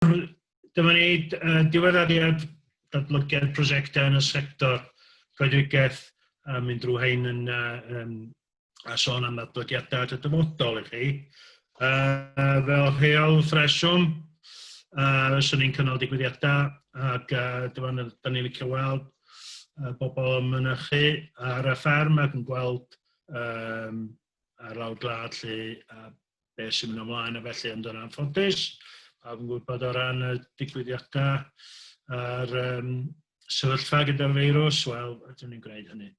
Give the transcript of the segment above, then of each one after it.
Nawr, dyma ni, uh, diweddariad datblygiad prosiectau yn y sector coedwigaeth a mynd drwy hein yn, uh, um, a sôn am ddatblygiadau at y dyfodol i chi. Uh, fel rheol ffresiwm, uh, swn i'n cynnal digwyddiadau ac uh, dyma ni, da ni'n licio weld uh, bobl yn mynychu ar y fferm ac yn gweld um, ar lawr glad lle uh, beth sy'n mynd ymlaen a felly ond yn anffodus pawb yn gwybod o ran y digwyddiadau a'r um, sefyllfa gyda'r feirws, wel, ydym ni'n gwneud hynny.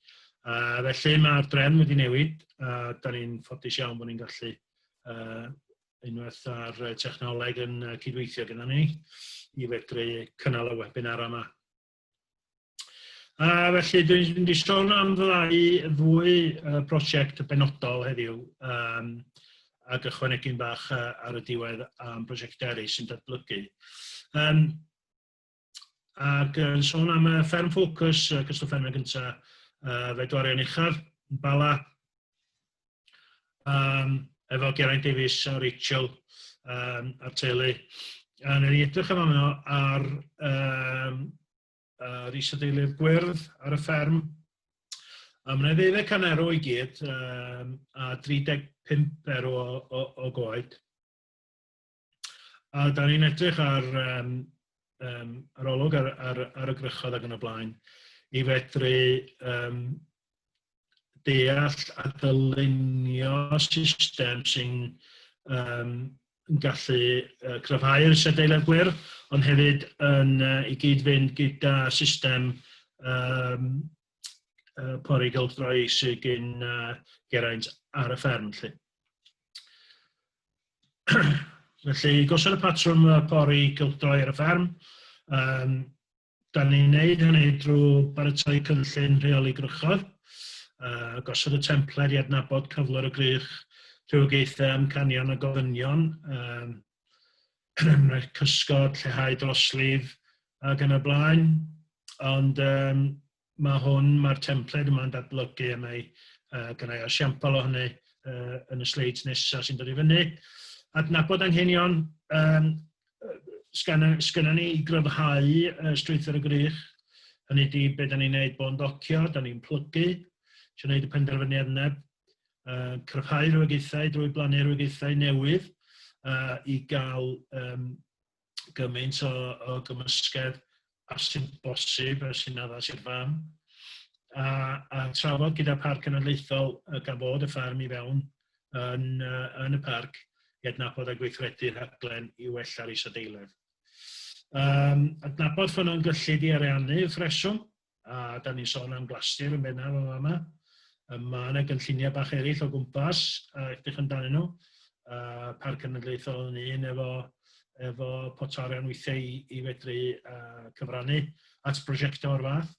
A felly mae'r drefn wedi newid a da ni'n ffodus iawn bod ni'n gallu uh, unwaith ar technoleg yn cydweithio gyda ni i fedru cynnal y webinar yma. A felly dwi'n mynd i sôn am ddau ddwy uh, prosiect benodol heddiw um, ac ychwanegu'n bach uh, ar y diwedd am prosiect eraill sy'n datblygu. Um, ac yn sôn am y fferm ffocws, uh, cystal fferm yn gyntaf, uh, fe dwarion uchaf, Bala, um, efo Geraint Davies a Rachel um, a teulu. A nid i edrych am yno ar um, uh, Rhys a Deulu'r Gwyrdd ar y fferm. A mae'n ddeuddeg can erw i gyd um, a 35 erw o, o, o goed. A da ni'n edrych ar um, um, ar olwg ar, ar, ar y grychodd ac yn y blaen i fedru um, deall a dylunio system sy'n um, gallu uh, cryfhau'r sedeiledd gwyrdd, ond hefyd yn, uh, i gyd-fynd gyda system um, uh, pori gylchdroi sy'n gyn uh, geraint ar y fferm. Lle. Felly, gosod y patrwm y pori gylchdroi ar y fferm. Um, da ni'n neud hynny drwy baratoi cynllun rheoli grychodd, uh, gosod y templed i adnabod cyflwr y grych, rhywogaethau, amcanion a gofynion, um, rhaid cysgod, lleihau droslif ac yn y blaen. Ond um, ma' hwn, mae'r templed yma'n datblygu a mae uh, gynnau asiampl o hynny uh, yn y sleids nesaf sy'n dod i fyny. Adnabod anghenion um, sgynna ni i gryfhau uh, strwythyr y grych. Hynny di beth da ni'n neud bo'n docio, da ni'n plygu, sy'n neud y penderfyniad yna, uh, cryfhau rhywogaethau drwy blannu rhywogaethau newydd uh, i gael um, gymaint o, o gymysgedd a sy'n bosib a sy'n addas i'r fam. A, a trafod gyda Parc Cenedlaethol y gan fod y ffarm i fewn yn, uh, yn y parc i adnabod a gweithredu rhaglen i wella'r isadeiledd. Um, adnabod ffynnon gyllid i ariannu y ffreswm a da ni'n sôn am Glastir yn bennaf yn fama. Yym, Mae yna gynlluniau bach eraill o gwmpas a edrych amdanyn nhw. Uh, Parc Cenedlaethol yn un efo, efo potorion weithiau i, i fedru uh, cyfrannu at brosiectau o'r fath.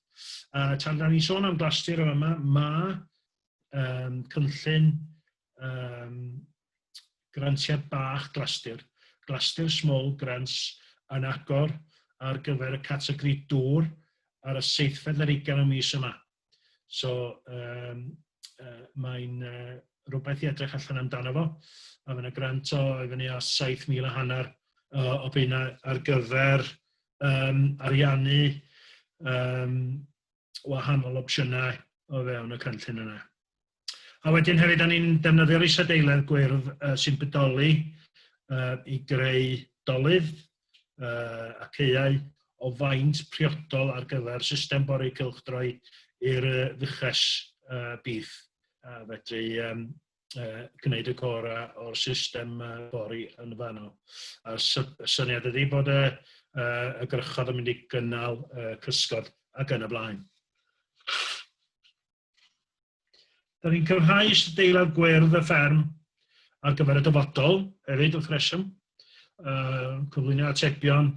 Uh, tan da ni'n sôn am Glastir yn fama, mae um, cynllun um, grantiad bach glastir, glastir small grants yn agor ar gyfer y categori dŵr ar y seithfed ar ugain o mis yma. So, um, uh, mae'n uh, rhywbeth i edrych allan amdano fo. A mae'n y grant o i fyny o 7,000 a hanner uh, o bina ar gyfer um, ariannu um, wahanol opsiynau o fewn y cynllun yna. A wedyn hefyd, da ni'n defnyddio'r isadeiledd gwyrdd uh, sy'n budoli uh, i greu dolydd uh, a ceiau o faint priodol ar gyfer system bori cylchdroi i'r uh, fuches uh, bif. Uh, fedru um, uh, gwneud y cora o'r system uh, bori yn fanno. A syniad ydy bod y, uh, y grychodd yn mynd i gynnal uh, cysgod ac yn y blaen. Da ni'n cyrhau deilad gwyrdd y fferm ar gyfer y dyfodol hefyd wrth reswm. Uh, cyflwyno atebion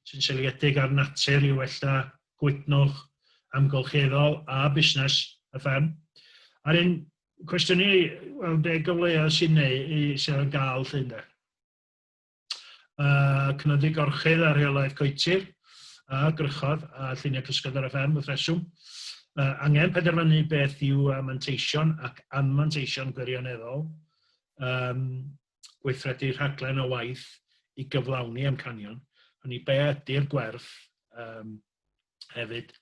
sy'n seliedig ar natur i wella gwydnwch amgylcheddol a busnes y fferm. A'r un cwestiynau, wel, be gyfleoedd sy'n neu, sy'n gael llun da? uh, cynyddu gorchudd a rheolaeth coetir, a grychodd a lluniau cysgod ar y fferm wrth reswm. Uh, angen penderfynu beth yw uh, manteision ac anmanteision gwirioneddol, um, gweithredu rhaglen o waith i gyflawni amcanion, hynny be ydy'r gwerth um, hefyd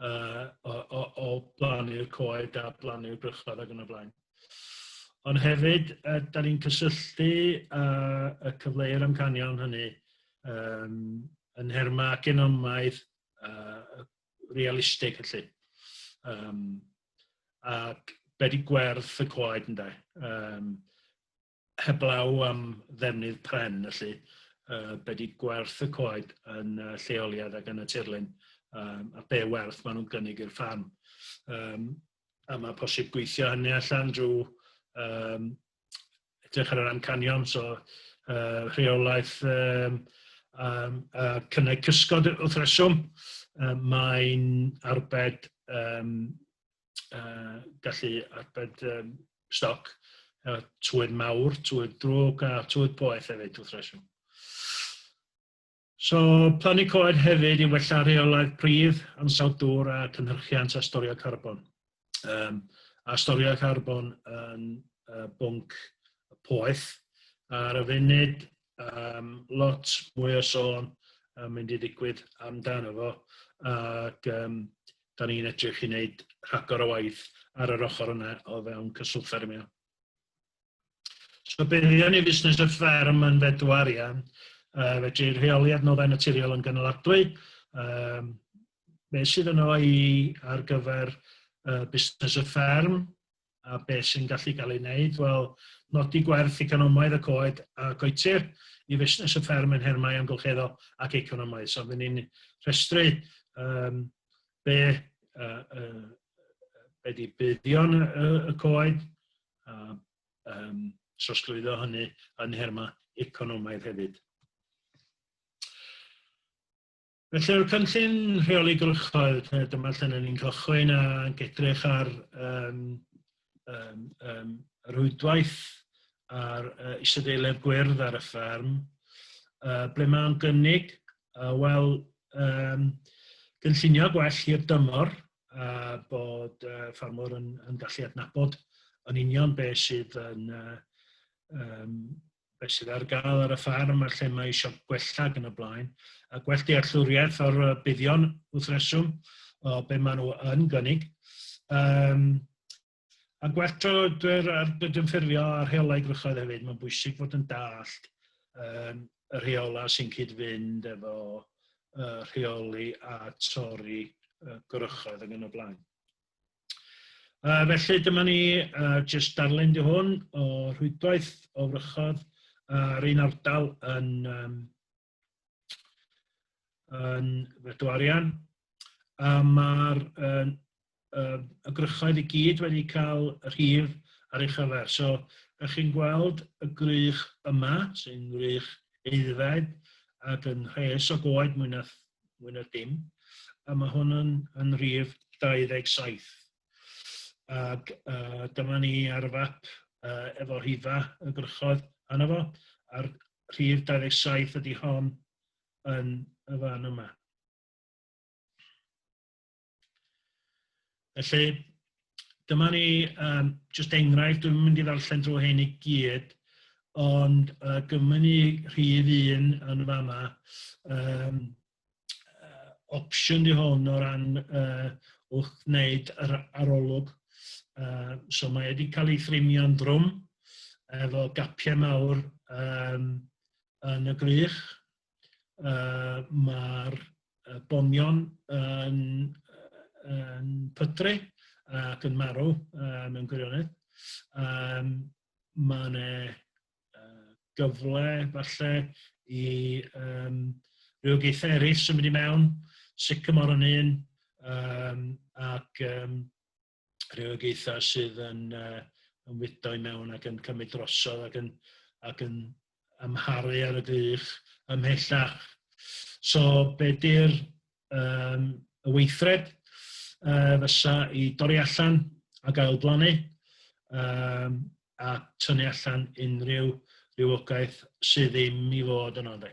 uh, o, o, o blannu'r coed a blannu'r brychod ac yn y blaen. Ond hefyd, uh, da ni'n cysylltu uh, y cyfleu'r amcanion hynny um, yn herma genomaidd uh, realistig felly. Um, ac be di gwerth y coed ynddo. Um, heblaw am ddefnydd pren felly, uh, be di gwerth y coed yn uh, lleoliad ac yn y tirlun, um, a be werth maen nhw'n gynnig i'r ffam. Um, a mae posib gweithio hynny allan drwy um, edrych ar yr amcanion, so uh, rheolaeth um, um, a cynnau cysgod wrth reswm, um, mae'n arbed um, uh, gallu arbed um, stoc, uh, twyr mawr, twyr drwg a twyr poeth hefyd wrth reswm. So, plannu coed hefyd i wella rheolaeth pridd, ansawdd dŵr a cynhyrchiant a storio carbon. Um, a storio carbon yn uh, bwnc poeth. Ar y funud, um, lot mwy o sôn yn mynd i ddigwydd amdano fo, ac um, da ni'n edrych i wneud rhagor o waith ar yr ochr yna o fewn cyswllt ffermio. So buddion ni fusnes y fferm yn fedw arian, uh, fedru rheoli adnoddau naturiol yn gynaladwy, um, beth sydd yno i ar gyfer uh, busnes y fferm, a beth sy'n gallu cael ei wneud, wel, nodi gwerth economaidd y coed a goetir i fusnes y fferm yn nhermau amgylcheddol ac economaidd. So, fydden ni'n rhestru um, be, uh, uh, be di buddion y, y coed, a um, trosglwyddo hynny yn nhermau economaidd hefyd. Felly o'r cynllun rheoli gwrychoedd, dyma lle ni'n cychwyn a gedrych ar um, um, um, rwydwaith ar uh, isadeiledd gwyrdd ar y fferm, uh, ble mae'n gynnig, uh, wel, um, gynllunio gwell i'r dymor, a uh, bod uh, ffarmwr yn, yn gallu adnabod yn union beth sydd yn uh, um, beth sydd ar gael ar y ffarm a lle mae eisiau gwella ac yn y blaen, a gwell dealltwriaeth o'r buddion wrth reswm o be maen nhw yn gynnig. Um, a gwell troedwyr ar gydymffurfio a rheolau grychoedd hefyd, mae'n bwysig fod yn dallt um, y rheolau sy'n cyd-fynd efo uh, rheoli a torri uh, grychoedd ac yn y blaen. Uh, felly dyma ni uh, just darllen di hwn o rhwydwaith o wrychodd ar un ardal yn, um, yn Bedwarian. A mae'r uh, uh, y grychoedd i gyd wedi cael rhif ar ei chyfer. So, ych chi'n gweld y grych yma, sy'n grych eiddfed, ac yn rhes o goed mwy na mwy na dim, a mae hwn yn, yn rhif 27. Ac uh, dyma ni ar y fap uh, efo rhifa y grychodd anna fo, a'r rhif 27 ydy hon yn y fan yma. Felly, dyma ni um, just enghraifft, dwi'n mynd i ddarllen drwy hyn i gyd, ond uh, gymryd ni rhif un yn fama, um, uh, opsiwn di hwn o ran uh, wrth wneud yr arolwg. Uh, so mae wedi cael ei thrimio'n drwm efo gapiau mawr um, yn y grych, uh, mae'r uh, bonion yn, uh, yn pydru ac yn marw uh, mewn gwirionedd. Um, mae yna uh, gyfle falle i um, rhywogaethau eraill symud i mewn, sycamor yn un, um, ac um, rhywogaethau sydd yn, uh, yn wydo i mewn ac yn cymryd drosodd ac yn, ac yn amharu ar y gwych ymhellach. So, be di'r um, y weithred uh, fysa i dorri allan a gael blannu um, a tynnu allan unrhyw rhywogaeth sydd ddim i fod yno. Dde.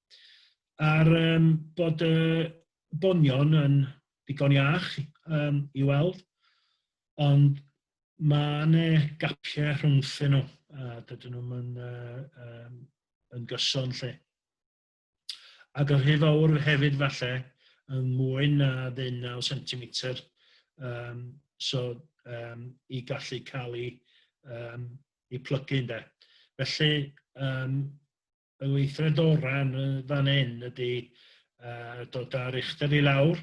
A'r um, bod y bonion yn ddigon iach um, i weld, ond mae yna gapiau rhwngthyn nhw, a dydyn nhw'n yn, uh, um, yn gyson lle. Ac yn rhy fawr hefyd falle, yn mwy na ddeunaw centimetr, um, so um, i gallu cael ei, um, ei plygu ynde. Felly, um, y weithred orau yn y fan hyn ydy uh, dod â'r uchder i lawr,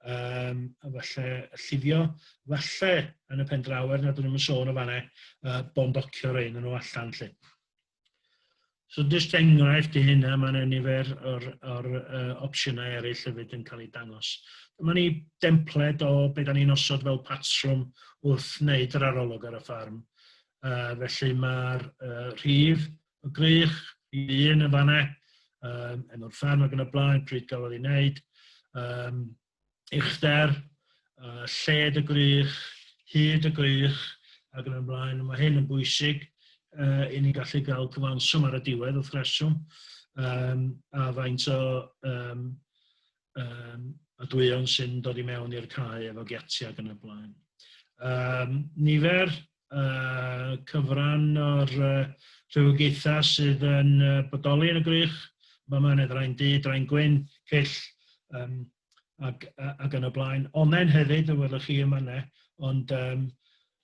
um, a falle llifio, falle yn y pen draw er nad ydym yn sôn o fanau, uh, bondocio rei nhw allan lle. So just enghraifft i hynna, mae'n ennifer o'r, or, uh, opsiynau eraill hefyd yn cael ei dangos. Dyma ni dempled o beth da ni'n osod fel patrwm wrth wneud yr arolwg ar y ffarm. Uh, felly mae'r uh, rhif o grych, i fi yn y fanna, um, yn o'r fferm ac yn y blaen, pryd gafodd ei wneud, um, uchder, uh, lled y grych, hyd y grych, ac yn y blaen. Mae hyn yn bwysig uh, i ni gallu cael cyfanswm ar y diwedd wrth reswm, um, a faint o um, um, a dwyiewn sy'n dod i mewn i'r cae efo giatia ac yn y blaen. Um, nifer uh, cyfran o'r uh, rhywogaethau sydd yn uh, bodoli yn y grych, mae yma yn draen du, draen gwyn, cyll, um, ac, ac yn y blaen. Onen hefyd, y welwch chi yma ne, ond um,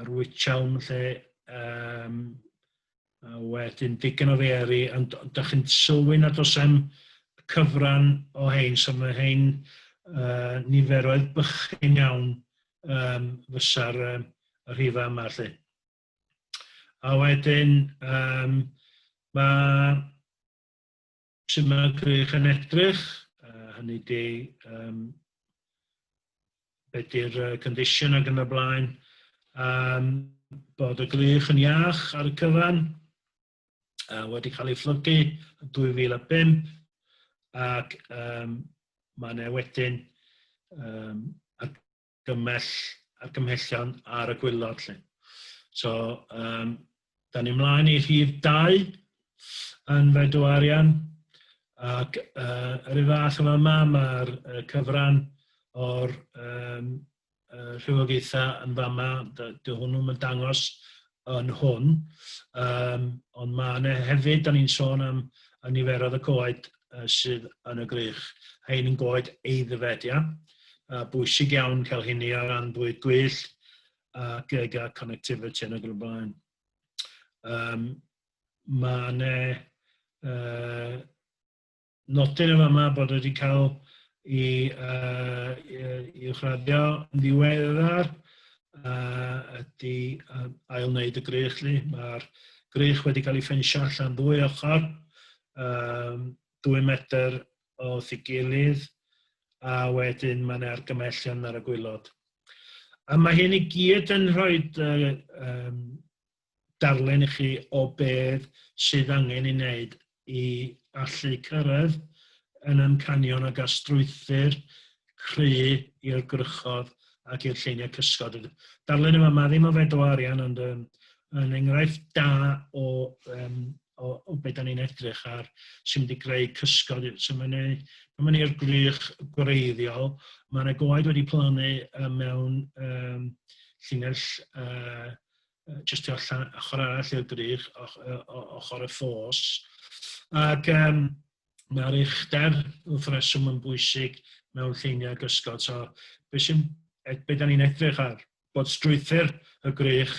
yr wychawn lle um, a wedyn digon o feri, ond da chi'n sylwi nad oes am cyfran o hein, so mae hein uh, niferoedd bychyn iawn um, fysa'r um, rhifa yma lle. A wedyn, um, mae Sut mae Grych yn edrych, uh, hynny ydy, um, be di'r uh, condition ac yn y blaen, um, bod y Grych yn iach ar y cyfan, uh, wedi cael ei fflygu yn 2005, ac um, mae yna wedyn um, gymell argymhellion ar y gwylod 'lly. So, um, da ni mlaen i rhif 2 yn fedw arian ac uh, yr un fath yma yma mae'r uh, cyfran o'r um, uh, rhywogaethau yn fama, dy, dy hwnnw'n yn dangos yn hwn. Yym, ond mae yna hefyd, da ni'n sôn am y niferoedd y coed uh, sydd yn y grych. Hein yn goed eiddfed, ia? Uh, bwysig iawn cael hynny ar ran bwyd gwyllt ac ag a connectivity yn y blaen. Um, mae yna uh, Nodir yn fama bod wedi cael i uwchraddio yn ddiweddar ydy ail wneud y grych 'lly. Mae'r grych wedi cael ei ffensio allan ddwy ochr, dwy metr o ei gilydd a wedyn mae yna argymellion ar y gwylod. A mae hyn i gyd yn rhoi darllen i chi o beth sydd angen ei wneud i allu cyrraedd yn amcanion ag a strwythur cry i'r gwrychodd ac i'r lleiniau cysgod. Darllen yma, mae ddim o fedro arian ond um, yn enghraifft da o, um, o, o beth da ni'n edrych ar sy'n mynd i greu cysgod. So mae'n ei, pan mae'n i'r grych gwreiddiol, mae yna goed wedi plannu mewn um, llinell uh, jyst tu allan, ochr arall i'r brig, ochr y ffos. Ac um, mae'r uchder wrth reswm yn bwysig mewn lleiniau gysgod. So, beth sy'n, e, be da ni'n edrych ar? Bod strwythyr y grych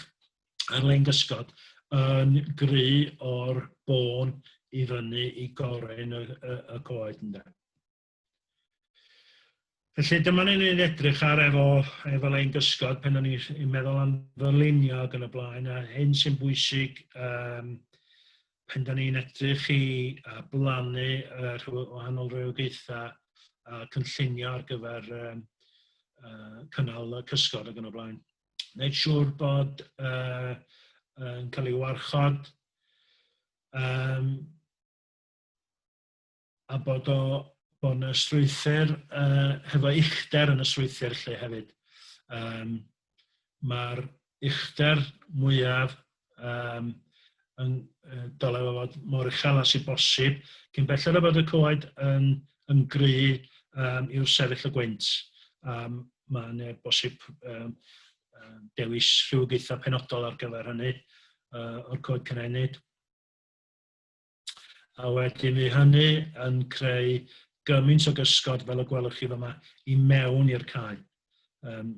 ar lein gysgod yn gry o'r bôn i fyny i gorin y, y, y coed ynda. Felly dyma ni'n ei edrych ar efo, efo ein gysgod pen o'n i'n meddwl am ddylunio ac yn y blaen, a hyn sy'n bwysig um, pen da ni'n edrych i uh, blannu uh, rhyw, wahanol rhywogaethau a uh, cynllunio ar gyfer um, uh, cynnal y cysgod ac yn y blaen. Wneud siŵr bod uh, yn cael ei warchod. Um, a bod o bod yna strwythur uh, hefo uchder yn y strwythur lle hefyd. Um, Mae'r uchder mwyaf um, yn uh, dole fo fod mor uchel as i bosib, cyn belled o bod y coed yn, yn gry um, i'w sefyll y gwynt. Um, Mae'n uh, bosib um, uh, dewis rhywogaethau penodol ar gyfer hynny uh, o'r coed cynhenid. A wedyn fydd hynny yn creu gymaint o gysgod fel y gwelwch chi fyma i mewn i'r cae. Um,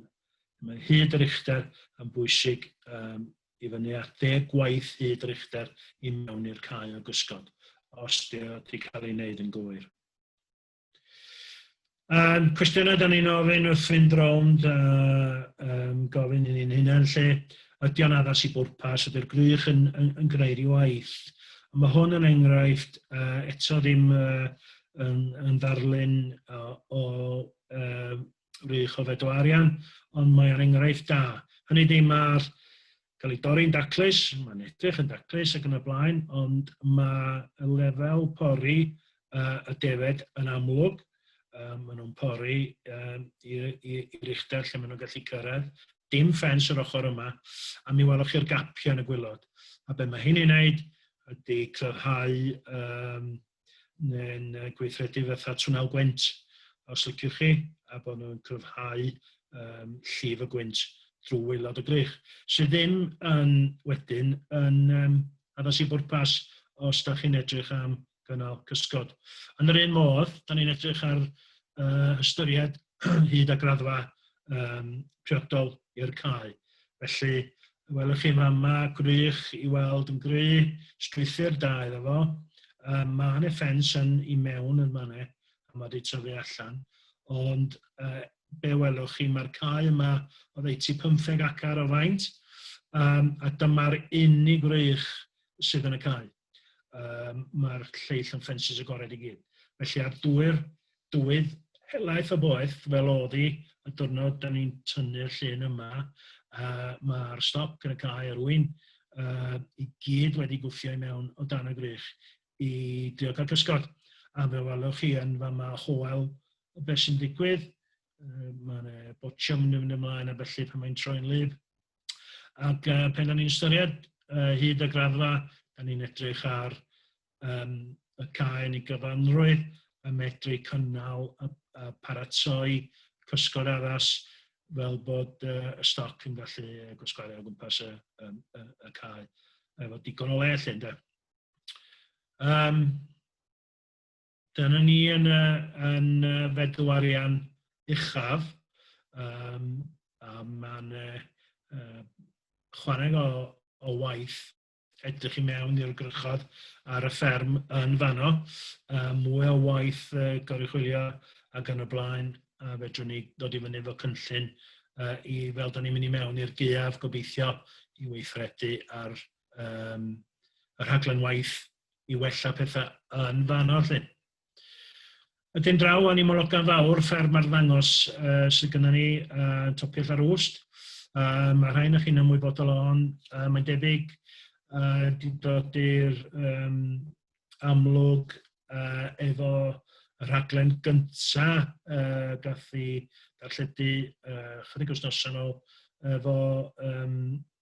mae hyd yr uchder yn bwysig um, i fyny at ddeg gwaith hyd yr uchder i mewn i'r cae o gysgod, os di wedi cael ei wneud yn gywir. A'r cwestiynau da ni'n ofyn wrth fynd rownd a um, gofyn i ni'n hunain lle, ydy o'n addas i bwrpas, ydy'r grych yn, yn, yn gwneud i waith. A mae hwn yn enghraifft uh, eto ddim uh, yn, yn ddarlun uh, o uh, wych o feddwl arian, ond mae ar enghraifft da. Hynny ddim ar cael ei dorri'n daclus, mae'n edrych yn daclus ac yn y blaen, ond mae y lefel pori uh, y defed yn amlwg, um, maen nhw'n pori um, i'r uchder lle maen nhw'n gallu cyrraedd, dim ffens yr ochr yma, a mi welwch chi'r gapiau yn y gwylod. A be mae hyn i'n neud ydy clyfhau um, neu'n uh, gweithredu fatha twnnel gwynt, os liciwch chi, a bod nhw'n cryfhau um, llif y gwynt drwy waelod y grych, sydd ddim yn wedyn yn um, addas i bwrpas os da chi'n edrych am gynnal cysgod. Yn yr un modd, da ni'n edrych ar uh, ystyried hyd a graddfa um, priodol i'r cae. Felly, welwch chi fama, gwych i weld yn gry, strwythyr da iddo fo. Um, mae hynny ffens yn i mewn yn fanna, a mae wedi tyfu allan. Ond uh, be welwch chi, mae'r cae yma o ddeutu 15 acar o faint, um, a dyma'r unig wrych sydd yn y cae. um, mae'r lleill yn ffensys agored i gyd. Felly ar dwy'r dywydd helaeth o boeth, fel oedd hi, y diwrnod da ni'n tynnu'r llun yma, uh, mae'r stop yn y cae ar wy'n uh, i gyd wedi gwffio i mewn o dan y grych i drio cael cysgod. A fe welwch chi yn fama hoel beth sy'n digwydd, uh, mae yna botwm yn mynd ymlaen a felly pan mae'n troi'n lyf. Ac uh, pen da ni'n ystyried uh, hyd y graddfa, da ni'n edrych ar um, y cae yn ei gyfanrwydd a medru cynnal a, a paratoi cysgod addas fel bod uh, y stoc yn gallu gwasgaru o gwmpas y, y, y, y cae efo digon o le lle, ynddo. Um, Dyna ni yn y, yn y feddw arian uchaf, um, a mae'n uh, chwarae o, o waith edrych i mewn i'r grychod ar y fferm yn fanno, uh, mwy o waith uh, goruchwylio ac yn y blaen, a fedrwn ni ddod i fyny efo cynllun uh, i, fel da ni'n mynd i mewn i'r geaf gobeithio, i weithredu ar um, y rhaglen waith i wella pethau yn fanno 'lly. Wedyn draw o'n i Mologan Fawr, fferm ar ddangos uh, sydd gyda ni uh, Topiell ar Wst. Uh, mae rhai na chi'n ymwybodol o'n, uh, mae'n debyg uh, dod i'r um, amlwg uh, efo y rhaglen gynta uh, gath i darlledu uh, chydig wythnosau nhw efo um,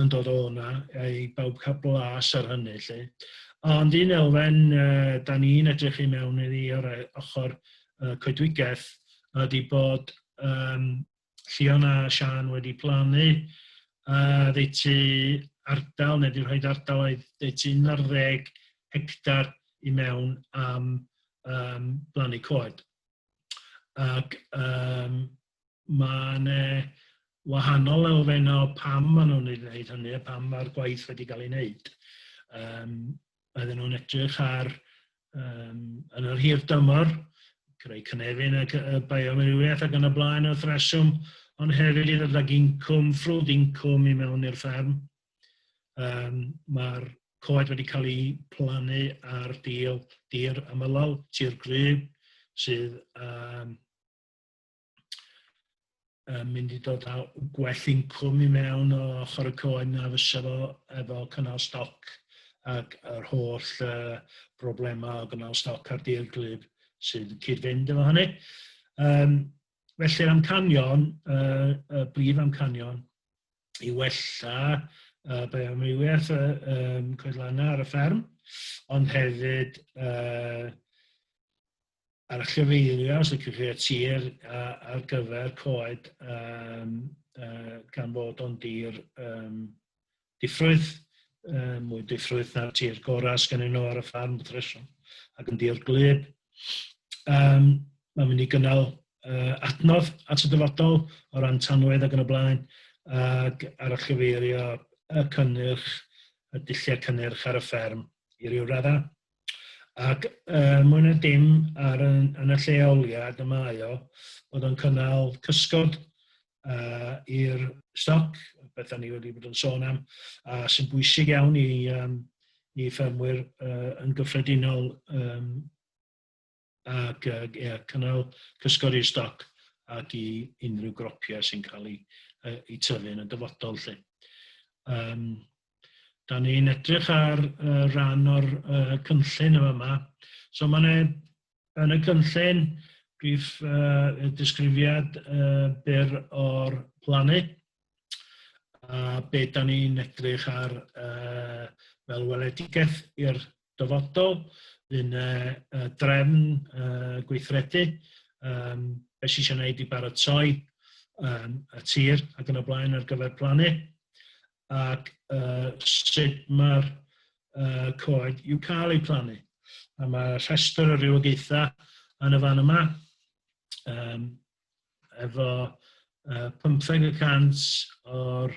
yn dod o hwnna, i bawb cael blas ar hynny 'lly. Ond un elfen uh, da ni'n edrych i mewn iddi o'r e, ochr uh, coedwigaeth ydy bod um, Llion a Sian wedi plannu uh, ddeutu ardal neu wedi rhoi ardal oedd ddeutu 11 hectar i mewn am um, blannu coed. Ac um, mae 'na wahanol elfennau o pam maen nhw'n ei wneud hynny a pam mae'r gwaith wedi cael ei wneud. Um, oedden nhw'n edrych ar, um, yn yr hir dymor, creu cynefin ac y bioamrywiaeth ac yn y blaen wrth reswm, ond hefyd i ddod ag incwm, ffrwd incwm i mewn i'r fferm. Um, Mae'r coed wedi cael eu plannu ar dir, dir amylol, tir gryb, sydd um, yn mynd i dod â gwell incwm i mewn o ochr y coen na fysa fo efo cynnal stoc ac yr holl uh, broblemau o gynnal stoc ar dir glyb sy'n cyd-fynd efo hynny. Um, felly'r amcanion, uh, y brif amcanion, i wella uh, bioamrywiaeth y um, coedlanna ar y fferm, ond hefyd uh, a'r chyfeirio, os licwch chi, y tir ar gyfer coed um, uh, gan fod o'n dir um, diffrwydd, uh, mwy diffrwydd na'r tir gorau sgan nhw ar y ffarm wrth reswm, ac yn dir glyb. Um, mae'n mynd i gynnal uh, adnodd at y dyfodol o ran tanwedd ac yn y blaen, ac ar y chyfeirio y cynnyrch, y dulliau cynnyrch ar y fferm i ryw raddau. Ac er mwyn y dim ar yn, yn y lleoliad y mae o, bod o'n cynnal cysgod uh, i'r stoc, beth ni wedi bod yn sôn am, a sy'n bwysig iawn i, um, i ffermwyr uh, yn gyffredinol um, ac yy ie cynnal cysgodi stoc ac i unrhyw gropia sy'n cael ei, uh, ei tyfu yn y dyfodol lle. Um, da ni'n edrych ar uh, ran o'r uh, cynllun yma yma. So mae yna yn y cynllun brif uh, disgrifiad uh, byr o'r plannu a be da ni'n edrych ar uh, fel weledigaeth i'r dyfodol, fydd 'na yy drefn yy gweithredu yym be' sy isio wneud i baratoi um, y tir ac yn y blaen ar gyfer plannu ac uh, sut mae'r uh, coed i'w cael eu plannu. A mae rhestr o rywogaethau yn y fan yma um, efo uh, 15 y cant o'r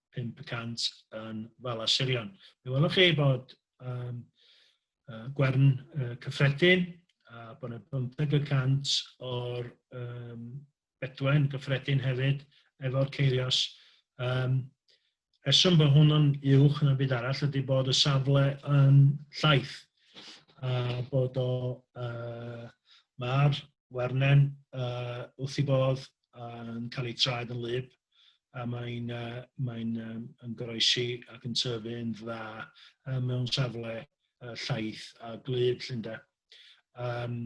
500 yn Fala Sirion. Fe welwch chi bod um, uh, gwern uh, cyffredin a bod yna 50 y cant o'r um, bedwen gyffredin hefyd efo'r ceirios. Um, rheswm bod hwn yn uwch yn y byd arall ydy bod y safle yn llaeth a bod o uh, mae'r wernen uh, wrth i bodd yn cael ei traed yn lyb a mae'n uh, mae uh, yn goroesi ac yn tyfu yn dda uh, mewn safle uh, llaeth a glyd llynda. Um,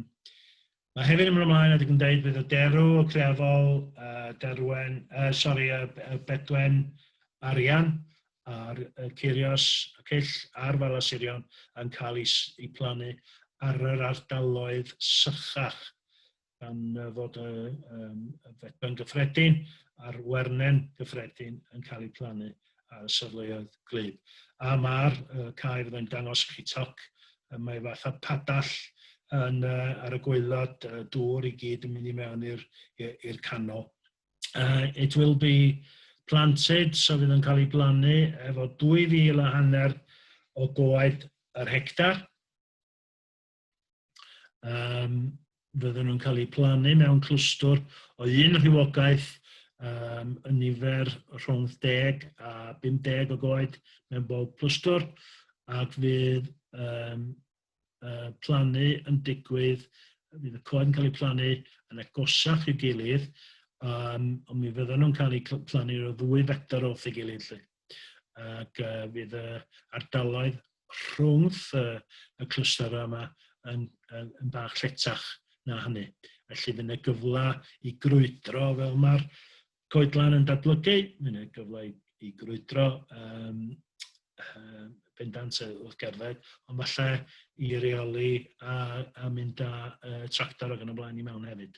Mae hefyd yn mynd ymlaen, a dwi'n gwneud bydd y derw, y creafol, y derwen, uh, sori, y bedwen arian a'r y ceirios, y cyll a'r falasurion yn cael ei, ei plannu ar yr ardaloedd sychach gan fod y, um, y fedben gyffredin a'r wernen gyffredin yn cael eu plannu ar y safleoedd glyb. A mae'r uh, cae fyddai'n dangos chi toc, uh, mae fath o padall yn, uh, ar y gweilod, uh, dŵr i gyd yn mynd i mewn i'r canol. Uh, it will be planted, so fydd yn cael ei blannu efo 2,000 a hanner o goed yr hectar. Um, fydden nhw'n cael eu plannu mewn clwstwr o un rhywogaeth um, yn nifer rhwng 10 a 50 o goed mewn bob clwstwr ac fydd um, uh, plannu yn digwydd, fydd y coed yn cael eu plannu yn agosach i'w gilydd, um, ond mi fydden nhw'n cael eu plannu o ddwy fetr wrth ei gilydd. Lle. ac uh, fydd y ardaloedd rhwngth y, y clwstera yma yn, yn, yn bach lletach na hynny. Felly fydd yna gyfle i grwydro fel mae'r coedlan yn datblygu, fydd yna gyfle i, i grwydro um, um, bendant wrth gerdded, ond falle i reoli a, a mynd â uh, tractor ag yn y blaen i mewn hefyd.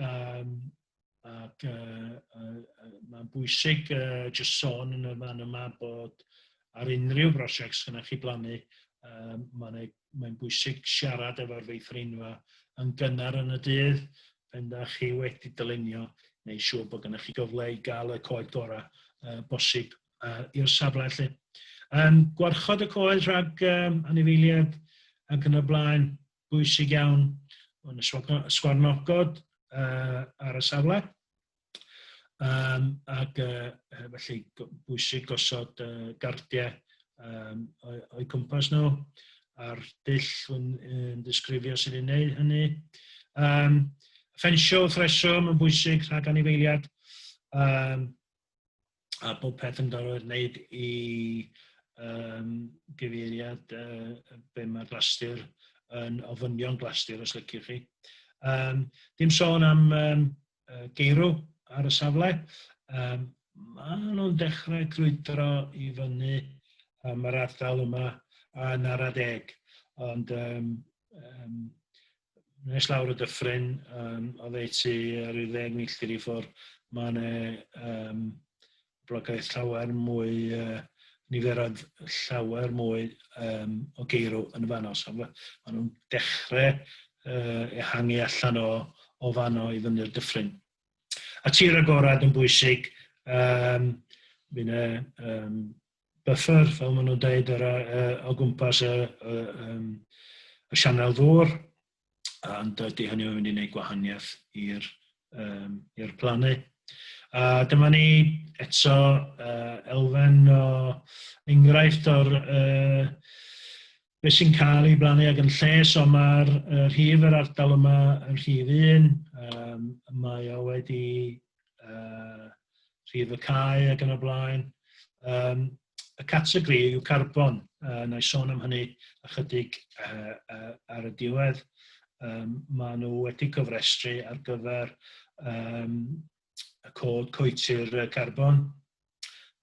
Um, ac uh, uh, uh, mae'n bwysig uh, jyst sôn yn y fan yma bod ar unrhyw brosiect sy'n chi blannu, um, mae'n mae bwysig siarad efo'r feithrinfa yn gynnar yn y dydd, pen da chi wedi dylunio, neu siŵr bod gennych chi gyfle i gael y coed gorau uh, bosib uh, i'r safle lle. Um, gwarchod y coed rhag um, anifeiliad ac yn y blaen, bwysig iawn yn y sgwarnogod uh, ar y safle. Um, ac uh, felly bwysig gosod uh, gardiau um, o'i cwmpas nhw a'r dull yn, yn disgrifio sydd yn gwneud hynny. Um, ffensio wrth reswm yn bwysig rhag anifeiliad. Um, a bod peth yn gorfod wneud i um, gyfeiriad uh, be mae glastur yn ofynion glastur os lygir chi. Um, dim sôn am um, geirw ar y safle. Um, mae nhw'n dechrau crwydro i fyny um, yr ardal yma yn ar adeg. Ond um, um, nes lawr y dyffryn, um, oedd ei tu ar ryw ddeg milltir i ffwrdd, mae yna um, blogaeth llawer mwy, uh, niferoedd llawer mwy um, o geirw yn y fanno. So, mae nhw'n dechrau uh, ehangu allan o, o fanno i fyny'r dyffryn. A tir agorad yn bwysig, um, Fy'n um, buffer, fel maen nhw'n dweud, yr, uh, o gwmpas y, y, um, y sianel ddŵr, ond ydy hynny yn mynd i wneud gwahaniaeth i'r um, i'r plannu. A dyma ni eto uh, elfen o enghraifft o'r uh, beth sy'n cael ei blannu ag yn lles, ond mae'r uh, rhif yr ardal yma yn rhif un, um, mae o wedi uh, rhif y cae ag yn y blaen. Um, y categori yw carbon, uh, na i sôn am hynny ychydig uh, uh, ar y diwedd. Um, mae nhw wedi cofrestru ar gyfer um, y cod coetir carbon.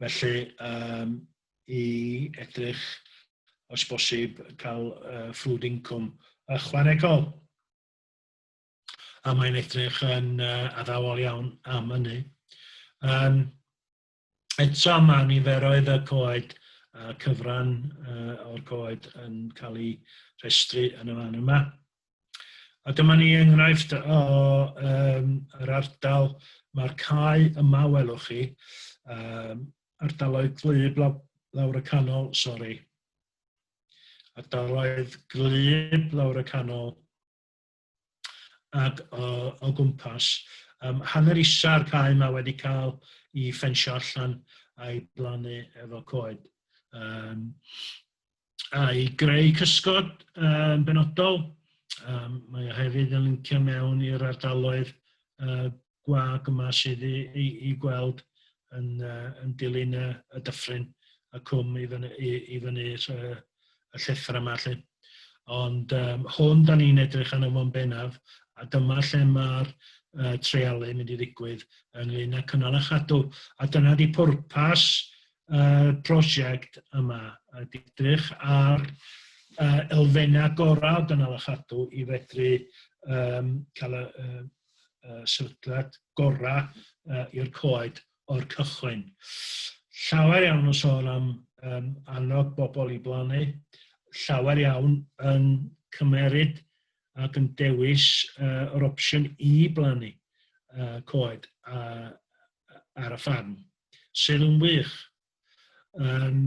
Felly, um, i edrych os bosib cael uh, ffrwd incwm ychwanegol. A mae'n edrych yn uh, addawol iawn am hynny. Um, eto mae niferoedd y coed a cyfran uh, o'r coed yn cael ei rhestru yn y fan yma. A dyma ni enghraifft o um, yr ardal, mae'r cae yma, welwch chi, um, ardaloedd glyb law, lawr y canol, sori. Ardaloedd glyb lawr y canol ac o, o gwmpas. Um, hanner isa'r cae yma wedi cael i ffensio allan a'i blannu efo coed. Um, a'i greu cysgod yn benodol. Um, mae o hefyd yn lincio mewn i'r ardaloedd uh, gwag yma sydd i, i, i gweld yn, uh, yn dilyn y, y dyffryn y cwm i fyny, i, i fyny uh, y llethr yma lle. Ond um, hwn da ni'n edrych arno fo'n bennaf a dyma lle mae'r uh, treialu mynd i ddigwydd ynglyn â cynnal a chadw. A dyna di pwrpas y prosiect yma ydy edrych ar uh, elfennau gorau o dynol a chadw i fedru um, cael y, uh, uh, sefydliad gorau uh, i'r coed o'r cychwyn. Llawer iawn o sôn am um, annog bobl i blannu, llawer iawn yn cymeryd ac yn dewis uh, yr opsiwn i blannu uh, coed uh, ar y ffarm. sydd yn wych. Um,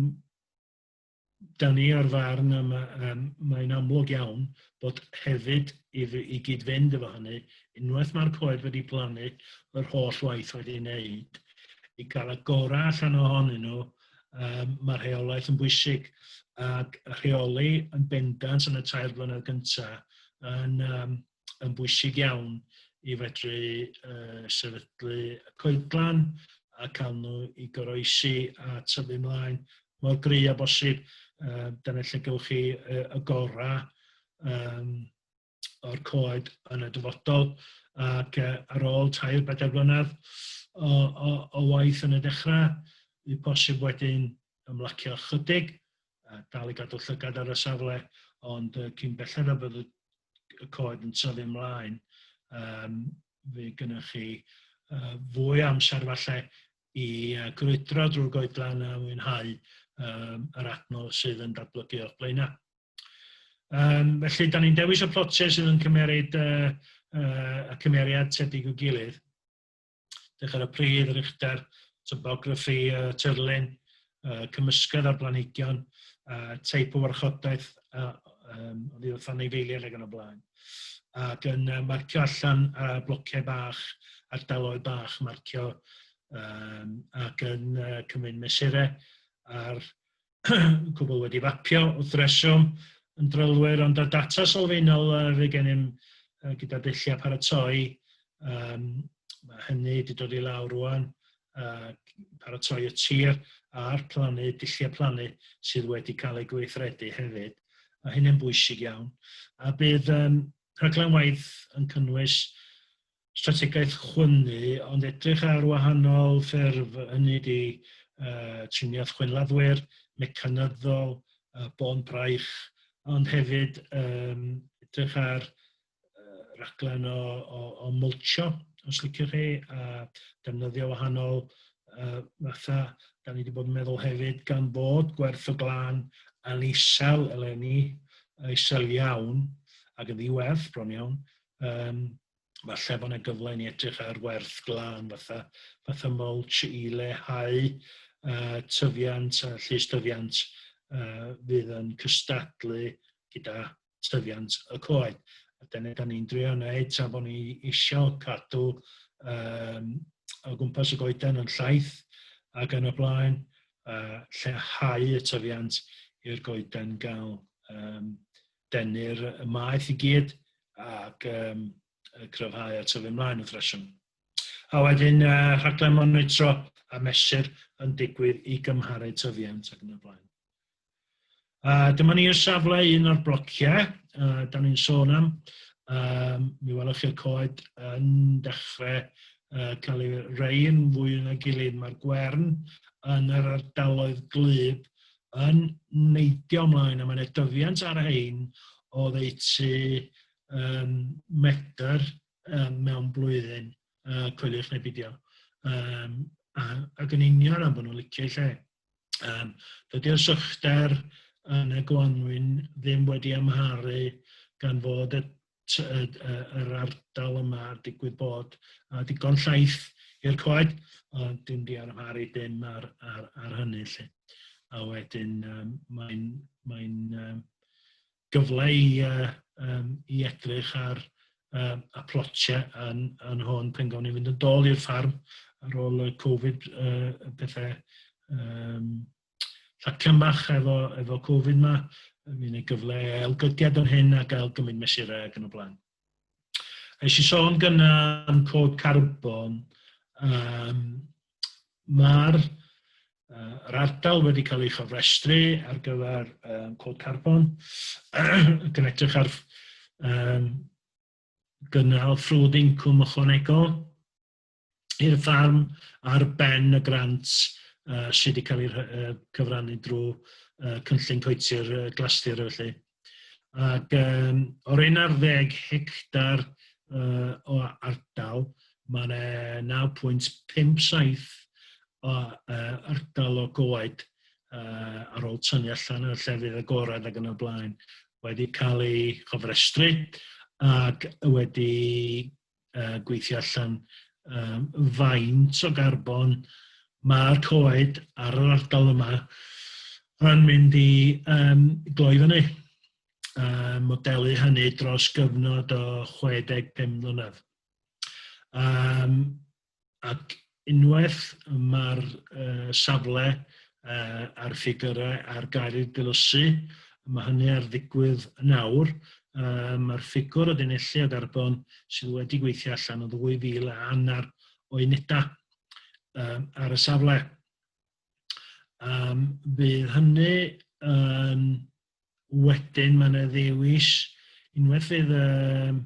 da ni ar farn a mae, um, mae'n amlwg iawn bod hefyd i, i gyd-fynd efo hynny, unwaith mae'r coed wedi plannu, yr holl waith wedi ei wneud, i gael y gorau allan ohonyn nhw, um, mae rheolaeth yn bwysig ac rheoli yn bendant yn y tair blynedd gyntaf yn, um, yn bwysig iawn i fedru uh, sefydlu y coedlan a cael nhw i goroesi a tyfu mlaen mor gry a bosib. Uh, dyna lle gywch chi uh, y gorau um, o'r coed yn y dyfodol ac uh, ar ôl tair bedair blynedd o, o, o waith yn y dechrau, y posib wedyn ymlacio chydig, uh, dal i gadw llygad ar y safle, ond uh, cyn belled a bydd y y coed yn tyfu ymlaen, um, fe gynnwch chi uh, fwy amser falle i uh, grwydro drwy'r goedlan a mwynhau um, yr adno sydd yn datblygu o'ch blaenau. Um, felly, da ni'n dewis y plotiau sydd yn cymeryd uh, uh, y cymeriad tebyg o gilydd. Dych ar y pridd, yr uchder, topography, y tirlun, y cymysgedd ar blanhigion, a teip o warchodaeth a, um, oddi wrth anifeiliaid ac yn y blaen. Ac yn uh, marcio allan a blociau bach, ardaloedd bach, marcio um, ac yn uh, cymryd mesurau ar y cwbl wedi fapio wrth reswm yn drylwyr, ond y data sylfaenol fydd gennym gyda dulliau paratoi, um, mae hynny wedi dod i lawr rwan, uh, paratoi y tir a'r plannu, dulliau plannu sydd wedi cael ei gweithredu hefyd. Mae hynny'n bwysig iawn. A bydd um, rhaglen waith yn cynnwys strategaeth chwynnu, ond edrych ar wahanol ffyrdd, hynny ydi uh, triniaeth chwynladdwyr, mecanyddol, uh, bôn braich, ond hefyd um, edrych ar uh, raglen o, o, o mulcho, os liciwch chi, a defnyddio wahanol uh, fatha, da ni wedi bod yn meddwl hefyd, gan bod gwerth o glan yn isel eleni, isel iawn, ac yn ddiwerth bron iawn, um, falle bod yna gyfle i ni edrych ar werth glân fatha, fatha mulch i lehau uh, tyfiant a llys dyfiant uh, fydd yn cystadlu gyda tyfiant y coed. A dyna da ni'n drio wneud tra bod ni eisiau cadw um, o gwmpas y goeden yn llaeth ac yn y blaen, uh, lleihau y tyfiant i'r goeden gael um, denu'r maeth i gyd ac um, cryfhau a tyfu ymlaen wrth reswm. A wedyn uh, rhaglen monitro a mesur yn digwydd i gymharu tyfiant ac yn y blaen. A dyma ni'r safle un o'r blociau, uh, da ni'n sôn am, um, mi welwch chi'r coed yn dechrau uh, cael ei rei yn fwy yn y gilydd. Mae'r gwern yn yr ardaloedd glyb yn neidio ymlaen a mae yna dyfiant ar rhain o ddeutu um, medr um, mewn blwyddyn, uh, coeliwch neu bidio. Um, a, ac yn union am bod nhw'n licio lle. Um, Dydy'r sychder yn y gwanwyn ddim wedi amharu gan fod y yr ardal yma, digwydd bod, a digon llaith i'r coed, ond dim di armharu dim ar, ar, ar hynny lle. A wedyn um, mae'n mae um, gyfle i, uh, um, i edrych ar um, y plotiau yn, yn hwn pen gawn ni fynd yn dol i'r ffarm ar ôl y Covid uh, pethau um, ffactor bach efo, efo Covid ma, yn mynd i gyfle elgydiad yn hyn a gael gymryd mesurau ac yn y blaen. Nes i sôn gyna am cod carbon, um, mae'r uh, yr ardal wedi cael ei chofrestru ar gyfer um, cod carbon, ac yn edrych ar um, gynnal ffrwd incwm ychwanegol, i'r ffarm ar ben y grant uh, sydd wedi cael ei uh, cyfrannu drwy uh, cynllun coetir uh, glastir felly. Ac um, o'r 11 hectar uh, o ardal, mae yna 9.57 o uh, ardal o goed uh, ar ôl tynnu allan y llefydd agorad ac yn y blaen wedi cael ei chofrestru ac wedi uh, gweithio allan um, faint o garbon mae'r coed ar yr ardal yma yn mynd i um, gloi fyny. Uh, modelu hynny dros gyfnod o 65 mlynedd. Um, ac unwaith y mae'r uh, safle uh, a'r ffigurau ar gael eu dilysu, mae hynny ar ddigwydd yn awr, uh, mae'r ffigwr o dynellu o garbon sydd wedi gweithio allan o 2,000 a annar o unedau um, ar y safle. Um, bydd hynny yn wedyn mae yna ddewis unwaith fydd um,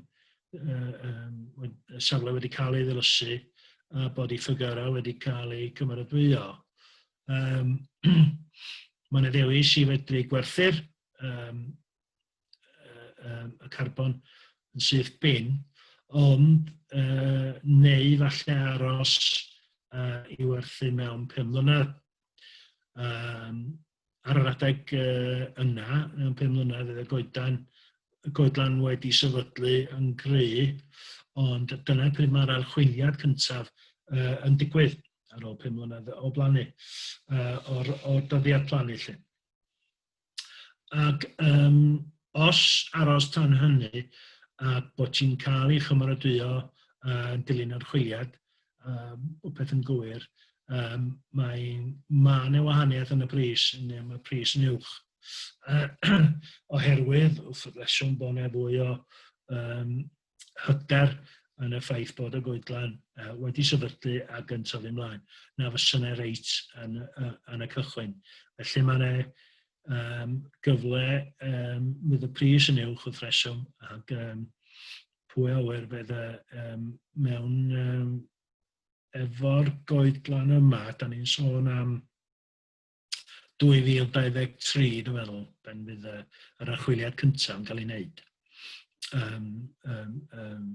um, y safle wedi cael ei ddilysu a bod ei ffygyrau wedi cael ei cymeradwyo. Um, mae yna ddewis i fedru gwerthu'r um, um, y carbon yn syth bin, ond uh, neu falle aros uh, i werthu mewn 5 mlynedd. Um, ar yr adeg uh, yna, mewn pum mlynedd, y goedan, y goedlan wedi sefydlu yn gry, ond dyna pryd mae'r archwiliad cyntaf uh, yn digwydd ar ôl pum mlynedd o blannu, uh, o'r, or dyddiad plannu lle. Ac um, os aros tan hynny, a bod ti'n cael ei chymaradwyo uh, yn dilyn archwiliad, um, rhywbeth yn gywir, um, mae ma yna wahaniaeth yn y pris, neu mae pris yn uwch. oherwydd, wrth reswm bod yna fwy o um, hyder yn y ffaith bod y goedlan uh, wedi sefydlu ac yn tyfu ymlaen, na fysa yna reit yn, uh, yn y cychwyn. Felly mae yna um, gyfle um, fydd y pris yn uwch wrth reswm ac um, pwy a ŵyr fydd e yym mewn yym efo'r goedlan yma, da ni'n sôn am 2023 dwi'n meddwl, pan fydd y, yr archwiliad cyntaf yn cael ei wneud. Um, um, um,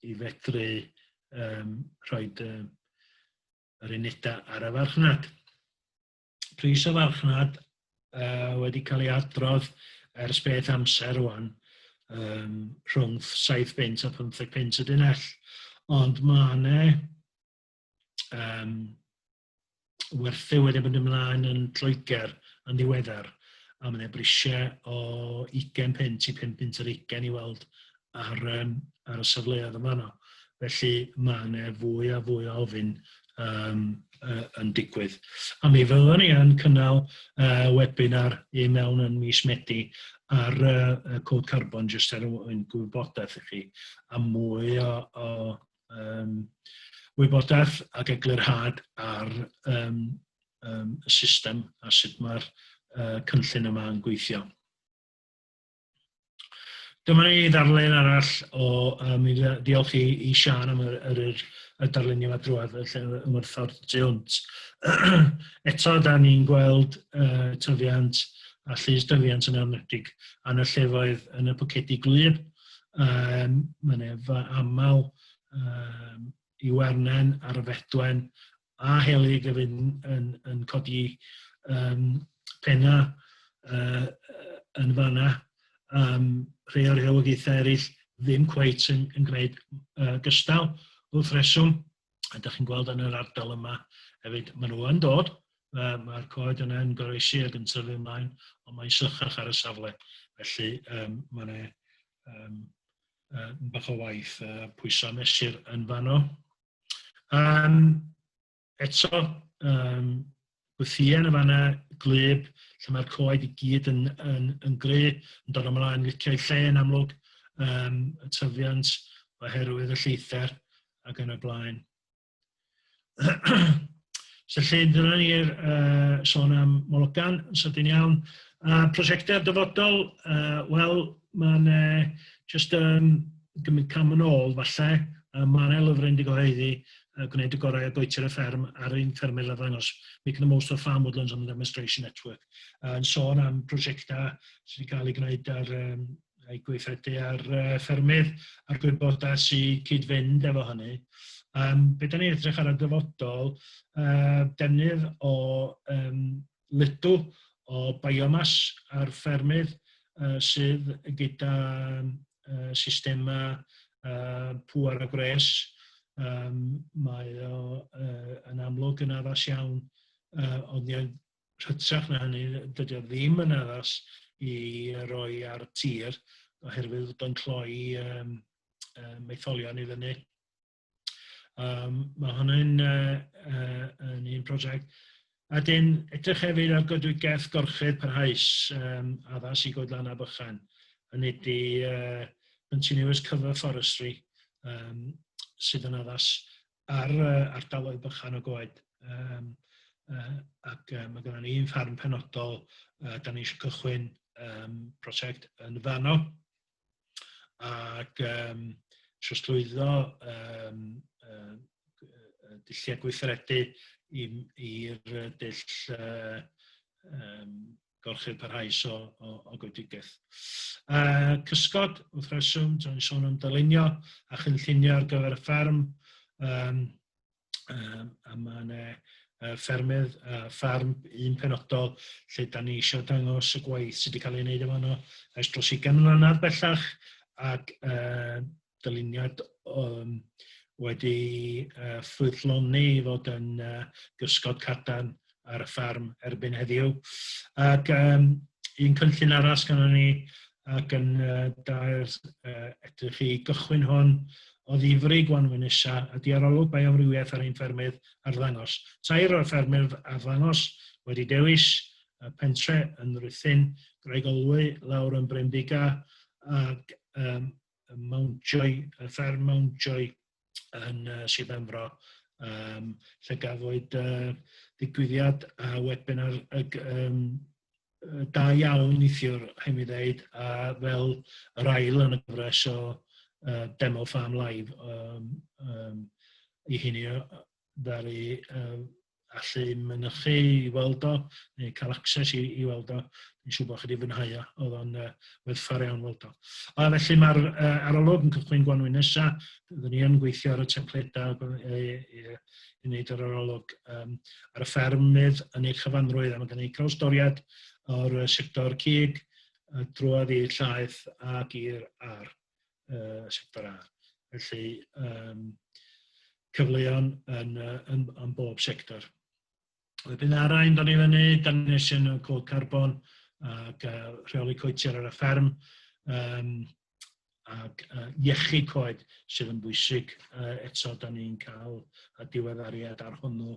I fedru um, rhoi uh, yr unedau ar y farchnad. pris y farchnad uh, wedi cael ei adrodd ers beth amser rwan um, rhwng 7 pint a 15 pint y dinell. Ond mae yna um, werthu wedi mynd ymlaen yn Lloegr yn ddiweddar a mae yna brisiau o 20 pint i 5 pint yr 20 i weld ar, um, ar y safleoedd yma yno. Felly mae yna fwy a fwy o ofyn um, uh, yn digwydd. A mi fyddwn ni yn cynnal uh, webinar i mewn yn mis Medi ar uh, cod carbon jyst er yn gwybodaeth i chi a mwy o, o um, wybodaeth ac eglurhad ar um, um, y system a sut mae'r uh, cynllun yma yn gweithio. Dyma ni ddarllen arall o, uh, mi ddiolch i, i Sian am yr, yr, yr, y darlunio yma drwad y lle ymwrthod tu hwnt. Eto, da ni'n gweld uh, tyfiant a llys dyfiant yn amnedig yn y llefoedd yn y pwcedi gwlyb. Um, Mae'n efa aml um, i Wernen ar y Fedwen a helyg a fydd yn, yn, yn codi um, penna uh, yn fanna. Um, rhai o'r rhywogaethau eraill ddim cweit yn, yn gwneud uh, gystal wrth reswm. A da chi'n gweld yn yr ardal yma hefyd, maen nhw yn dod, uh, mae'r coed yna yn goroesi ac yn tyfu ymlaen, ond mae'n sychach ar y safle. Felly um, mae'n um, uh, bach o waith uh, pwyso mesur yn fanno. Um, eto, um, gwythien y fanna, glyb, lle mae'r coed i gyd yn, yn, yn gry, yn dod ymlaen, licio'i lle yn amlwg, um, y tyfiant oherwydd y lleither ac yn y blaen. So lle dyna ni i'r uh, sôn am Mologan, yn sydyn iawn. A prosiectau dyfodol, uh, wel, mae'n uh, just um, gymryd cam yn ôl, falle, uh, mae'n lyfr yn digoheiddi, uh, gwneud y gorau o goetir y fferm ar ein ffermydd a ddangos Make the Most of Farm Woodlands on the Demonstration Network. Uh, yn sôn am prosiectau sydd wedi cael ei gwneud ar um, rhai gweithredu ar uh, ffermydd a'r gwybodau sy'n cyd-fynd efo hynny. Um, be da ni'n edrych ar y dyfodol, uh, defnydd o um, lydw o biomas ar ffermydd uh, sydd gyda uh, systemau uh, pŵer a gwres. Um, mae o uh, yn amlwg yn addas iawn uh, ond hytrach na hynny, dydy o ddim yn addas i roi ar y tir oherwydd bod o'n cloi um, um, maetholion i fyny. Um, mae hwnny'n uh, uh, yn un prosiect. A dyn, edrych hefyd ar goedwigaeth gorchudd parhaus um, addas i goedlan a bychan. Hynny di uh, continuous cover forestry um, sydd yn addas ar uh, ardaloedd bychan o goed. Um, uh, ac uh, mae gennym ni un ffarm penodol, uh, da ni eisiau cychwyn um, prosiect yn fanno. Ac um, trosglwyddo um, uh, dulliau gweithredu i'r dull uh, um, gorchudd parhaus o, o, o goedigaeth. Uh, cysgod, wrth reswm, dwi'n ni'n sôn am dylunio a chynllunio ar gyfer y fferm, um, um, a mae yna uh, ffermydd a uh, ffarm un penodol lle da ni eisiau dangos y gwaith sydd wedi cael ei wneud efo yno ers dros 20 mlynedd bellach ac uh, dyluniad um, wedi uh, ffrwythloni i fod yn uh, gysgod cadan ar y ffarm erbyn heddiw. Ac um, un cynllun arall gan ni ac yn uh, dair uh, edrych i gychwyn hwn o ddifri gwanwyn isa a diarolwg bioamrywiaeth ar ein ffermydd ar ddangos. Tair o'r ffermydd ar ddangos wedi dewis y pentre yn Ruthin, Graig Olwy, lawr yn Bremdiga, ac um, Mountjoy, y fferm Mountjoy yn uh, Sir Benfro, um, lle gafwyd uh, ddigwyddiad a webinar y, um, da iawn neithiwr, hain mi ddeud, a fel yr ail yn y gyfres o uh, Demo Farm Live um, um, i hynny ddaru uh, allu mynychu i weld o, neu cael access i, i weld o. Dwi'n siŵr bod chi wedi fwynhau o, oedd o'n uh, werthfawr iawn weld o. A felly mae'r uh, arolwg yn cychwyn gwanwyn nesaf, byddwn ni yn gweithio ar y templedau i, i, i wneud yr arolwg um, ar y ffermydd yn ei chyfanrwydd, a mae gen i drawstoriad o'r sector cig, drwodd i'r llaeth ac i'r ar. uh, y sector A. Felly, um, cyfleon yn, uh, yn, yn bob sector. Wedyn ar ein dod i fyny, da ni'n eisiau y cod carbon ac uh, rheoli coetiau ar y fferm um, ac uh, iechu coed sydd yn bwysig. Uh, eto, da ni'n cael y diweddariad ar hwnnw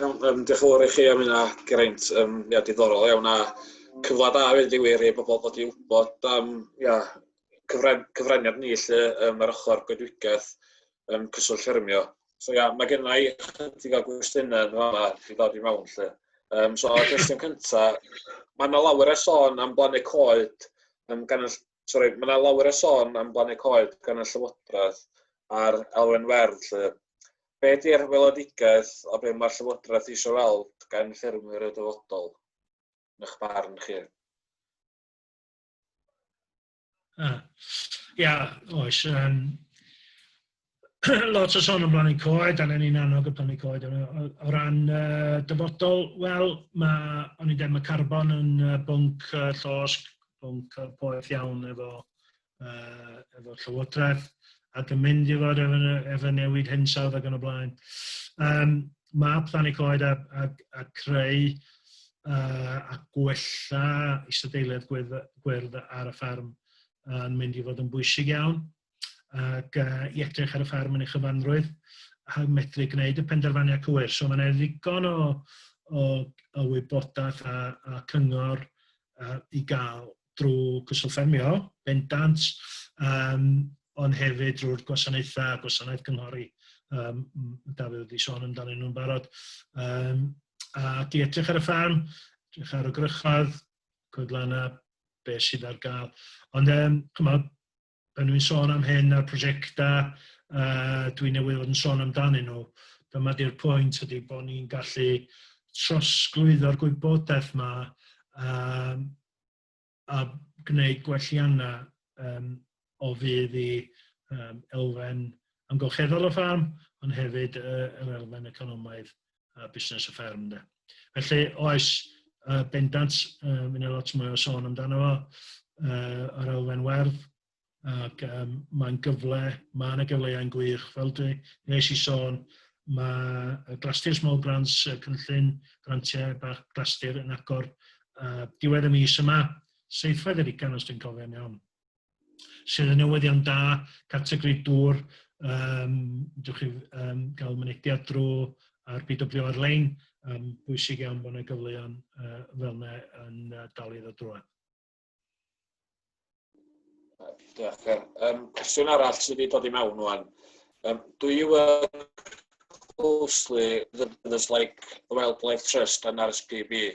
Iawn, um, diolch yn fawr i chi am hynna, Geraint. Um, ia, diddorol iawn a cyfle da hefyd i wir i bobl bod i wybod am ia, cyfren, cyfraniad ni lle um, ar ochr goedwigaeth um, cyswllt ffermio. So ia, mae gennau i chydig o gwestiynau yn fanna i ddod i mewn lle. Um, so, y cwestiwn cyntaf, mae yna lawer o sôn am blannu coed um, gan y sori, mae yna lawer o sôn am blannu coed gan y Llywodraeth a'r elfen werdd. Lle. Be di'r weledigaeth o beth mae'r Llywodraeth eisiau weld gan ffermwyr y dyfodol, yn eich barn chi? Ia, yeah, oes. Um, lot o son am blannu coed, a ni'n annog y plannu coed. O ran uh, dyfodol, wel, mae, o'n i'n dweud, mae carbon yn uh, bwnc uh, llosg, bwnc uh, poeth iawn efo, uh, efo llywodraeth, ac yn mynd i fod efo, efo newid hinsawdd ac yn y blaen. Um, mae plannu coed a, a, a creu uh, a gwella isadeiledd gwyrdd, gwyrdd ar y ffarm yn mynd i fod yn bwysig iawn. ac uh, i edrych ar y ffarm yn ei chyfanrwydd a medru gwneud y penderfyniad cywir. So mae'n ddigon o, o, o wybodaeth a, a cyngor uh, i gael drwy cyswllt ffermio, bendant, um, ond hefyd drwy'r gwasanaethau, gwasanaeth cynghori, um, Dafydd wedi sôn amdanyn nhw'n barod. Um, a di edrych ar y ffarm, edrych ar y grychodd, coedlanna, beth sydd ar gael. Ond um, chymod, Pan dwi'n sôn am hyn a'r prosiectau uh, dwi newydd fod yn sôn amdanyn nhw, dyma di'r pwynt ydy bod ni'n gallu trosglwyddo'r gwybodaeth yma um, a gwneud gwelliannau um, o fydd i um, elfen amgylcheddol y ffarm, ond hefyd uh, yr elfen economaidd a busnes y fferm de. Felly oes uh, bendant, uh, mynd e lot mwy o sôn amdano fo, uh, yr elfen werdd, ac um, mae'n gyfle, mae yna gyfleau'n gwych, fel dwi nes i sôn, mae Glastir Small Grants, y cynllun grantiau bach Glastir yn agor uh, diwedd y mis yma, seithfed yr ugan os dwi'n cofio'n iawn. sydd yn newyddion da, categori dŵr, um, dych chi um, gael mynediad drwy ar BW ar-lein, um, bwysig iawn bod yna gyfleon uh, fel yna yn uh, dal iddo drwy. Diolch, Ger. Um, cwestiwn arall sydd wedi dod i mewn o'n. Um, do you work closely with others like the Wildlife Trust and RSPB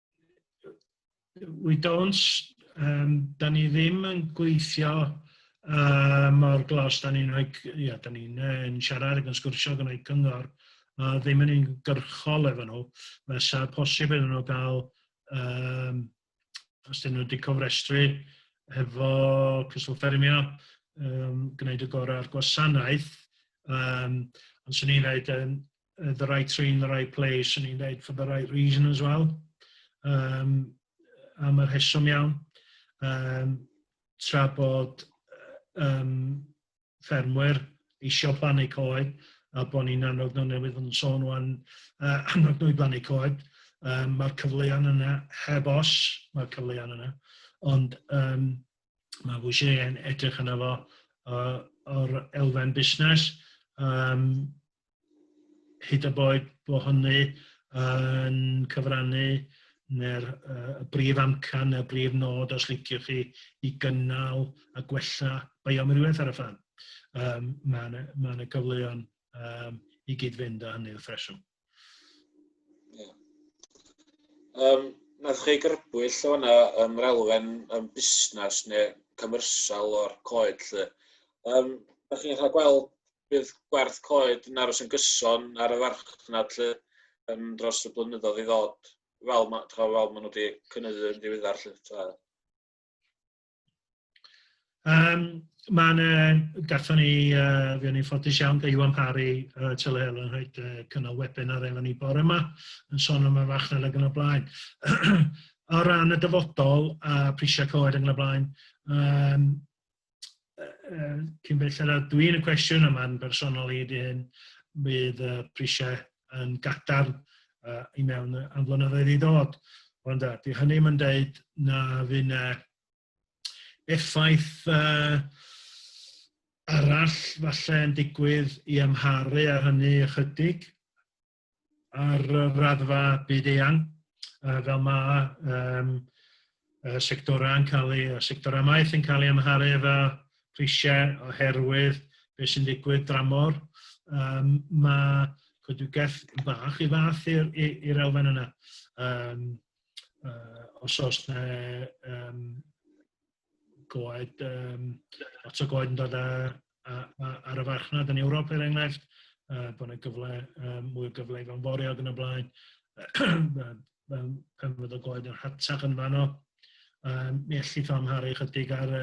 we don't, um, da ni ddim yn gweithio uh, mor glos, da ni'n rhoi, ia, da ni'n uh, siarad ac yn sgwrsio gan rhoi cyngor, uh, ddim yn un gyrchol efo nhw, mae sa posib iddyn nhw gael, um, os dyn nhw wedi cofrestru hefo Cyswllt Ffermio, um, gwneud y gorau ar gwasanaeth, um, ond swn i'n rhaid yn, uh, the right tree in the right place, yn i'n dweud, for the right reason as well, um, am yr heswm iawn, um, tra bod um, ffermwyr eisiau plannu coed, a bod ni'n annog nhw newydd yn sôn o'n uh, annog nhw i blannu coed, um, mae'r cyfleon yna, heb os mae'r cyfleon yna, ond um, mae bwysig yn edrych yna fo uh, o'r elfen busnes, um, hyd y boed bod hynny yn cyfrannu neu'r uh, y brif amcan neu'r brif nod os liciwch chi i gynnal a gwella bioamrywiaeth ar y ffan. Um, mae yna ma gyfleon um, i gyd-fynd â hynny wrth reswm. Yeah. Um, Nath chi grybwyll o yna um, yr elfen um, busnes neu cymrysal o'r coed lle. Um, Ydych chi'n cael gweld bydd gwerth coed yn aros yn gyson ar y farchnad lle um, dros y blynyddoedd i ddod, fel, ma, fel maen nhw wedi cynyddu yn ddiweddar. Lle, tra. Um, Mae'n uh, gatho ni, uh, fi o'n i'n ffodus iawn, da Iwan Parry, uh, Tyle Helen, yn rhaid uh, cynnal webinar efo ni bore yma, yn sôn am y farchnad ag yn y blaen. o ran y dyfodol a prisiau coed ag yn y blaen, um, uh, cyn belled a dwi'n y cwestiwn, a mae'n bersonol i di hyn, bydd y prisiau yn gatar uh, i mewn am flynyddoedd i ddod. Ond da, di hynny mae'n dweud na fy'n uh, effaith uh, arall falle yn digwydd i amharu ar hynny ychydig. ar raddfa byd eang, uh, fel mae um, uh, sectorau yn cael ei, sectorau maeth yn cael ei amharu efo prisiau oherwydd beth sy'n digwydd dramor. Um, mae coedwigaeth bach i fath i'r elfen yna. Um, uh, os oes na um, goed, um, lot o goed yn dod a, a, a, ar y farchnad yn Ewrop er enghraifft, uh, bod yna gyfle, um, mwy o gyfle i fan forio ac yn y blaen, pen fydd o goed yn hatach yn fanno, um, mi allu ffa amharu chydig ar,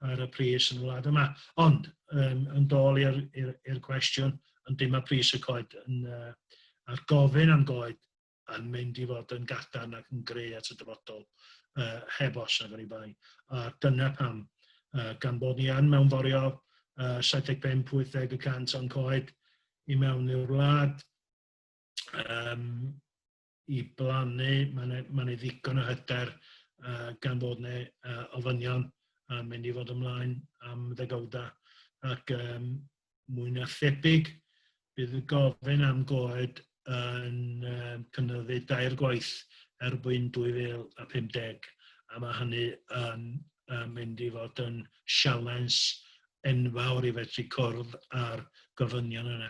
ar y pris yn y wlad yma. Ond, um, yn dôl i'r cwestiwn, yn dim mae pris y coed yn, uh, a'r gofyn am goed yn mynd i fod yn gadarn ac yn gry at y dyfodol, uh, heb os ac oni bai. A dyna pam, uh, gan bod ni yn mewnforio uh, 75-80 y cant o'n coed i mewn i'r wlad, um, i blannu, mae'n ei ma ddigon o hyder uh, gan fod ni uh, ofynion yn mynd i fod ymlaen am ddegawda ac um, mwy na thebyg bydd y gofyn am goed yn um, cynyddu dair gwaith erbyn 2050 a mae hynny yn um, mynd i fod yn sialens enfawr i fedru cwrdd â'r gofynion yna.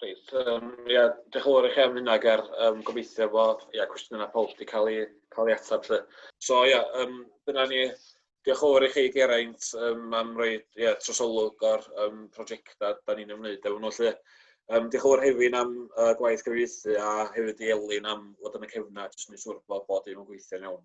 Reit, um, ia, diolch yn fawr i chi am hynna, Ger. Um, gobeithio bod ia, cwestiynau pawb wedi cael ei, cael ei ateb. Lle. So, ia, um, dyna ni. Diolch yn fawr i chi, Geraint, um, am roi ia, trosolwg o'r um, prosiectau da ni'n ymwneud efo nhw. Lle. Um, diolch yn fawr hefyd am uh, gwaith gyfeithi a hefyd i Elin am fod yn y cefna, jyst yn ei siŵr bod bod dim yn gweithio'n iawn.